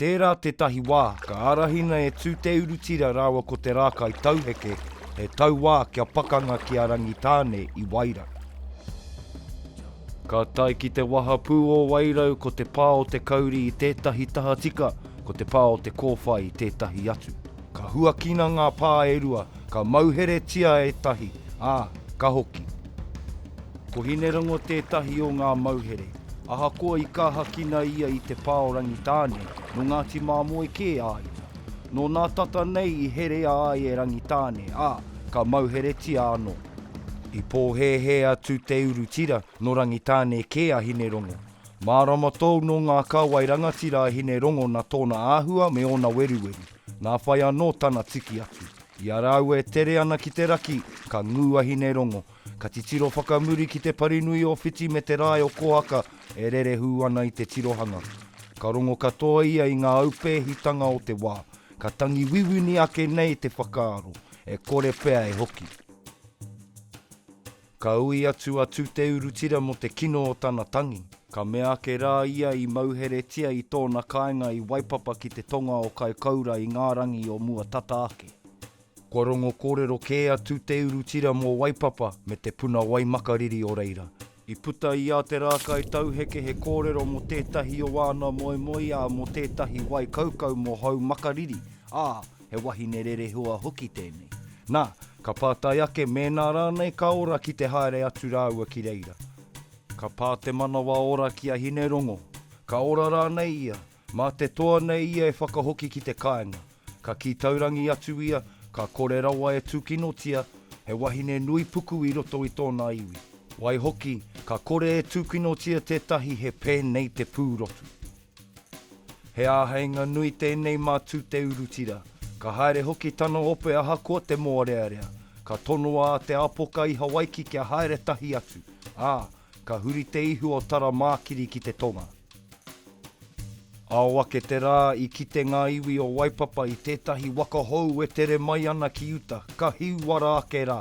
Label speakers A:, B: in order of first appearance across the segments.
A: Tērā tētahi wā ka ārahina e Tūteurutira rāua ko Te Rākai Tauheke he tauā kia pakanga ki a Rangitāne i Wairau. Ka tae ki te wahapū o Wairau ko te pā o te kauri i tētahi tahatika, ko te pā o te kōwhai i tētahi atu. Ka huakina ngā pā e rua, ka mauheretia e tahi, ā, ka hoki. Ko Hinerango tētahi o ngā mauhere. Ahakoa i kāhakina ia i te pā o Rangitāne, nō Ngāti Māmoe kē a ia. Nō nā tata nei i herea ai e Rangitāne, ā, ka mauheretia anō. I pōhēhē atu te uru tira, nō Rangitāne kē a Hinerongo. Mārama tōu nō ngā kāwai rangatira a Hinerongo nā tōna āhua me ōna weruweru. Nā whai anō tana tiki atu. I a rāua e tere ana ki te raki, ka ngū a Hinerongo, Ka titiro whakamuri ki te parinui o Whiti me te rae o Kohaka e rerehū ana i te tirohanga. Ka rongo katoa ia i ngā aupēhitanga o te wā, ka tangi wiwini ake nei te whakaaro, e kore pea e hoki. Ka ui atu a Tuteurutira mō te kino o tana tangi. Ka mea ake rā ia i mauheretia i tōna kāinga i Waipapa ki te tonga o Kaikoura i ngā rangi o mua tata ake. Kua rongo kōrero kē atu te uru tira mō Waipapa me te puna wai makariri o reira. I puta i a Te Rākai Tauheke he kōrero mō tētahi o āna moemoeā mō tētahi wai kaukau mō Hau Makariri, ā, he wahine rerehua hoki tēnei. Nā, ka pātai ake mēnā rānei ka ora ki te haere atu rāua ki reira. Ka pā te manawa ora ki a Hinerongo, ka ora rānei ia. Mā te toa nei ia e whakahoki ki te kāinga. Ka kī taurangi atu ia, ka kore rawa e tūkinotia he wahine nui puku i roto i tōna iwi. Waihoki, ka kore e tūkinotia tētahi he pēnei te pūrotu. He āheinga nui tēnei mā Tūteurutira. Ka haere hoki tana ope ahakoa te mōrearea. Ka tonoa a Te Apoka i Hawaiki kia haere tahi atu, ā, Ka huri te ihu o Taramākiri ki te tonga. Ao ake te rā, i kite ngā iwi o Waipapa i tētahi waka hou e tere mai ana ki uta, ka hīwara ake rā.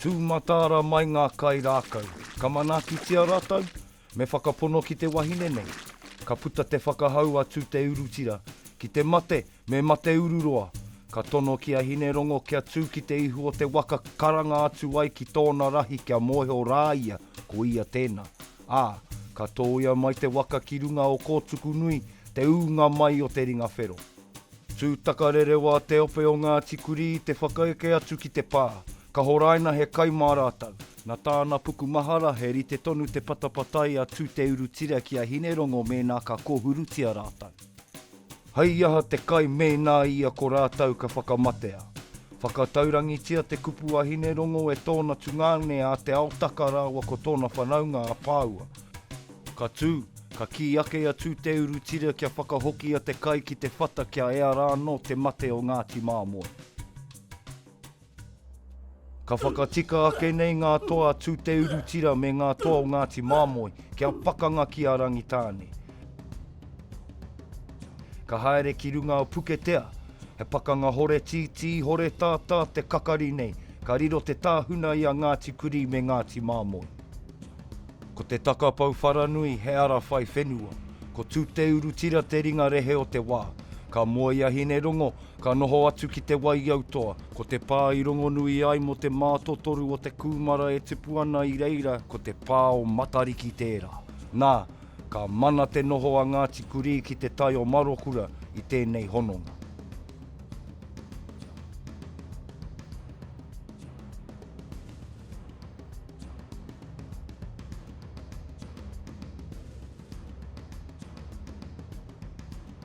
A: Tūmataara mai ngā kai rākau. Ka manaakitia rātou, Me whakapono ki te wahine nei. Ka puta te whakahau a Tuteurutira, Ki te mate, me mate ururoa! Ka tono ki a Hinerongo kia tū ki te ihu o te waka karanga atu ai ki tōna rahi kia mōhio rā ia ko ia tēnā. Ā, ka tōia mai te waka ki runga o Kōtukunui, te ūnga mai o te ringa whero. Tū takarerewa te ope o Ngāti Kurī i te whakaeke atu ki te pā. Ka horaina he kai mā rātou. Na tāna puku mahara, he rite tonu te patapatai a Tuteurutira ki a Hinerongo mēnā ka kōhurutia rātou. Hei aha te kai mēnā ia ko rātou ka whakamatea? Whakataurangitia te kupu a Hinerongo e tōna tungāne a Te Aotaka rāua ko tōna whanaunga a Pāua. Ka tū, ka kī ake a Tuteurutira kia whakahokia te kai ki te whata kia ea rānō te mate o Ngāti Māmoe. Ka whakatika ake nei ngā toa a Tūteurutira me ngā toa o Ngāti Māmoe kia pakanga ki a Rangitāne. Ka haere ki runga o Puketea, he pakanga hore tītī, hore tātā te kakari nei, ka riro te tāhuna i a Ngāti Kurī me Ngāti Māmoe. Ko te takapau wharanui he ara whai whenua, ko Tūteurutira te ringa rehe o te wā. Ka moe i a Hinerongo, Ka noho atu ki te waiautoa, ko te pā i rongonui ai mō te mātotoru o te kūmara e tupu ana i reira ko te pā o Matariki tērā. Nā, ka mana te noho a Ngāti Kurī ki te tai o Marokura i tēnei hononga.